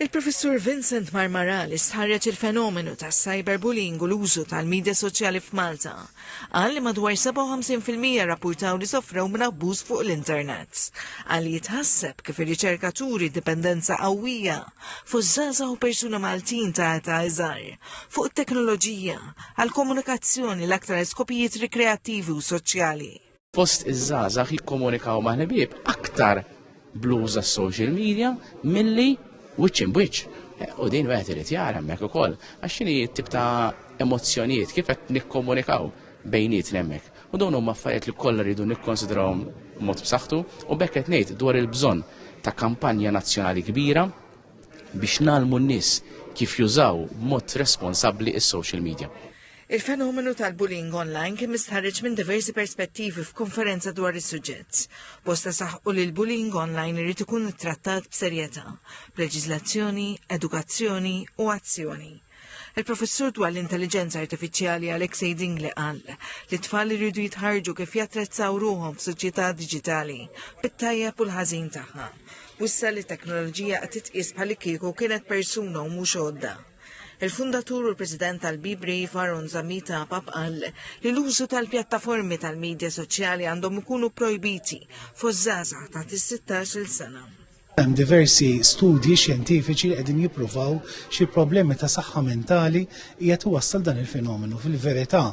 Il-Professur Vincent Marmarà li stħarreġ il-fenomenu tas-cyberbullying u l-użu tal-midja soċjali f'Malta, qal li madwar 57 fil-mija rrappurtaw li sofrew minn abbuż fuq l-internet. Qal li jitħasseb kif ir-riċerka turi dipendenza qawwija fost żgħażagħ u persuni Maltin ta' età iżgħar fuq it-teknoloġija għall-komunikazzjoni l-aktar għal skopijiet rikreattivi u soċjali. fost iż-żgħażagħ jikkomunikaw ma' ħbieb aktar blues għas social media milli wiċċ imbiċ. Eh, u din wieħed irid jara hemmhekk ukoll għax xini tip ta' emozzjonijiet kif qed nikkomunikaw bejniet hemmhekk. U dawn huma affarijiet li kollha rridu nikkonsidrawhom mod b'saħħtu u bekk qed ngħid dwar il-bżonn ta' kampanja nazzjonali kbira biex nalmu n-nies kif jużaw mod responsabbli is-social media. Il-fenomenu tal-bullying online kien mistħarriġ minn diversi perspettivi f'konferenza dwar is-suġġett. Bosta saħqu li l-bullying online irid ikun ittrattat b'serjetà, b'leġiżlazzjoni, edukazzjoni u azzjoni. Il-professur dwar l-intelligenza artifiċjali Alexei Dingli qal li t-tfal iridu jitħarġu kif jattrezzaw ruħhom f'soċjetà diġitali bit-tajjeb u l-ħażin tagħha. Wissa li t-teknoloġija qed titqies bħal kieku kienet persuna u mhux għodda. Il-fundatur u l-President tal-Be Brave Aaron Zammita Apap qal li l-użu tal-pjattaformi tal-medja soċjali għandhom ikunu projbiti fost żgħażagħ ta' is-16-il sena. Hemm diversi studji xjentifiċi li qegħdin jippruvaw xi problemi ta' saħħa mentali qiegħed iwassal dan il-fenomenu. Fil-verità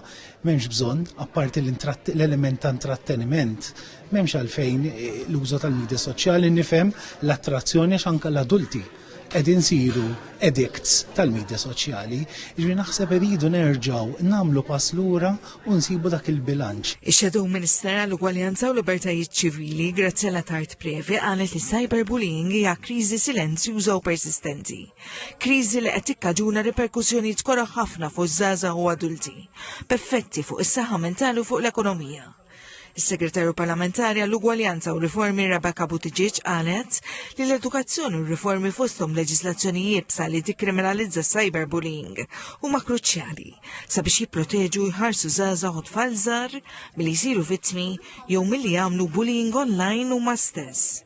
m'hemmx bżonn apparti l-element ta' intratteniment m'hemmx għalfejn eh, l-użu tal-medja soċjali nifhem l-attrazzjoni għax anke l-adulti qegħdin nsiru addicts tal-midja soċjali, jiġifieri naħseb irridu nerġgħu nagħmlu pass lura u nsibu dak il-bilanċ. Ix-Shadow Minister għall-Ugwaljanza u Libertajiet Ċivili, Graziella Tard Previ qalet li s-cyberbullying hija kriżi silenzjuża u persistenti. Kriżi li qed tikkaġuna riperkussjonijiet koroh ħafna fuż-żgħażagħ u adulti, b'effetti fuq is-saħħa mentali u fuq l-ekonomija. Is-Segretarju Parlamentari għall-Ugwaljanza u Riformi Rebecca Buttigieg qalet li l-edukazzjoni u riformi fosthom leġislazzjonijiet sa li tikkriminalizza cyberbullying huma kruċjali sabiex jipproteġu jħarsu żgħażagħ u tfal żgħar milli jsiru vittmi jew milli jagħmlu bullying online huma stess.